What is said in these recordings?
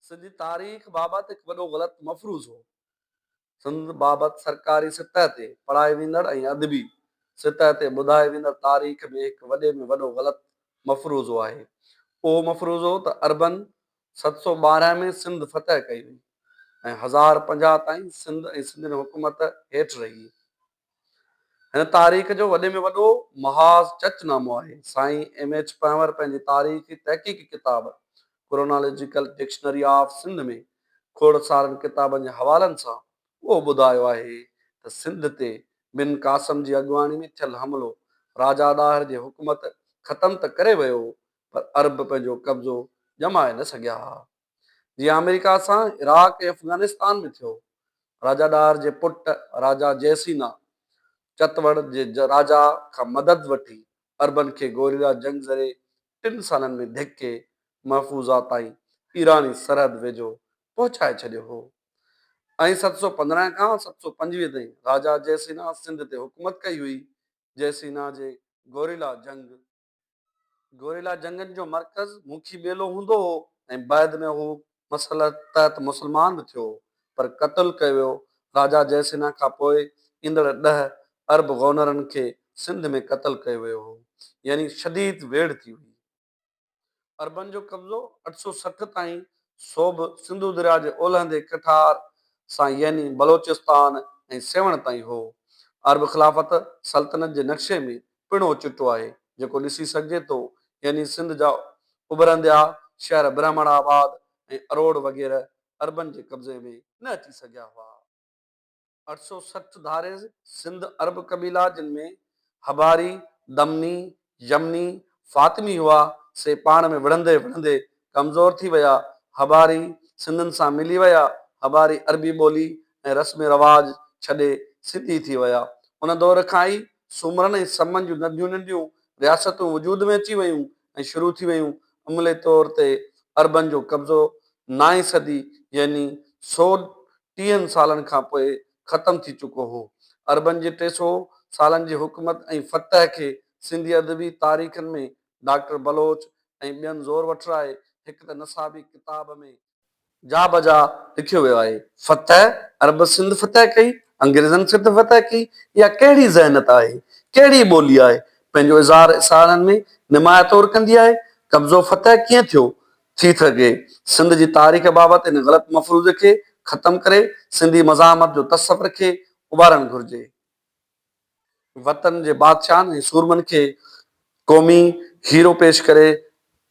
سنڌي تاريخ بابت هڪ وڏو غلط مفروض هو. سنڌ بابت سرڪاري سطح تي پڙهائي ويندڙ ۽ ادبي سطح تي ٻڌائي ويندڙ تاريخ ۾ هڪ وڏي ۾ وڏو غلط مفروضو آهي. اهو مفروضو ته عربن ست سؤ ٻارهن ۾ سنڌ فتح ڪئي هئي ۽ هزار پنجاهه تائين سنڌ ۽ سنڌين حڪومت هيٺ رهي. هن تاريخ جو وڏي ۾ وڏو محاذ چچ نامو آهي. سائين ايم ايڇ پنهور پنهنجي تاريخي تحقيقي ڪتاب ڪرونالاجيڪل ڊڪشنري آف سنڌ ۾ کوڙ سارن ڪتابن جي حوالن سان اهو ٻڌايو آهي ته سنڌ تي بن قاسم جي اڳواڻي ۾ ٿيل حملو راجا ڏاهر جي حڪومت ختم ته ڪري ويو پر عرب پنهنجو قبضو ڄمائي نه سگهيا. جيئن آمريڪا سان عراق ۽ افغانستان ۾ ٿيو. راجا ڏاهر جي پٽ راجا جئه سينا چتوڙ جي راجا کان مدد وٺي عربن کي گوريلا جنگ ذريعي ٽن سالن ۾ ڌڪي محفوظا تائين ايراني سرحد ويجهو پهچائي ڇڏيو هو ۽ ست سؤ پندرهن کان ست سؤ پنجويهه تائين راجا جئه سينا سنڌ تي حڪومت ڪئي هئي. جئه سينا جي گوريلا جنگ. گوريلا جنگن جو مرڪز موکي ٻيلو هوندو هو ۽ بعد ۾ هو مسلط تحت مسلمان به ٿيو هو پر قتل ڪيو ويو. راجا جئه سنها کان پوء ايندڙ ڏهه ارب غونرن کي سنڌ ۾ قتل ڪيو ويو هو يعني شديد ويڙهه ٿي هئي. عربن جو قبضو اٺ سؤ سٺ تائين سوڀ سنڌو درياء جي اولهندي ڪٺار سان يعني بلوچستان ۽ سيوهڻ تائين هو. عرب خلافت سلطنت جي نقشي ۾ پڻ اهو چٽو آهي جيڪو ڏسي سگهجي ٿو يعني سنڌ جا اڀرنديا شهر برهمڻ آباد ۽ اروڙ وغيره عربن جي قبضي ۾ نه اچي سگهيا هئا. اٺ سؤ سٺ ڌاريز سنڌ عرب قبيلا جن ۾ حباري، دمني، يمني، فاطمي هئا، سي پاڻ ۾ وڙهندي وڙهندي ڪمزور ٿي ويا. حباري سنڌين سان ملي ويا. حباري عربي ٻولي ۽ رسم رواج ڇڏي سنڌي ٿي ويا. ان دور کان ئي سومرن ۽ سمن جون ننڍيون ننڍيون رياستون وجود ۾ اچي ويون ۽ شروع ٿي ويون. عملي طور تي عربن جو قبضو نائين صدي يعني سؤ ٽيهن سالن کان پوء ختم ٿي چڪو هو. عربن جي ٽي سو سالن جي حڪومت ۽ فتح کي سنڌي ادبي تاريخن ۾ ڊاڪٽر بلوچ ۽ ٻين زور وٺرائي هڪ ته نصابي ڪتاب ۾، جا بجا لکيو ويو آهي، فتح، عرب سنڌ فتح ڪئي، انگريزن سنڌ فتح ڪئي، اها ڪهڙي ذهنيت آهي، ڪهڙي ٻولي آهي، پنهنجو اظهار اسارن ۾ نمايان طور ڪندي آهي، قبضو فتح ڪيئن ٿيو، ٿي سگهي. سنڌ جي تاريخ بابت ان غلط مفروضي کي ختم ڪري سنڌي مزاحمت جو تصور کي اڀارڻ گهرجي. وطن جي بادشاهن ۽ سورمن کي قومي هيرو پيش ڪري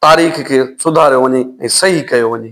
تاريخ کي سڌاريو وڃي ۽ صحيح ڪيو وڃي.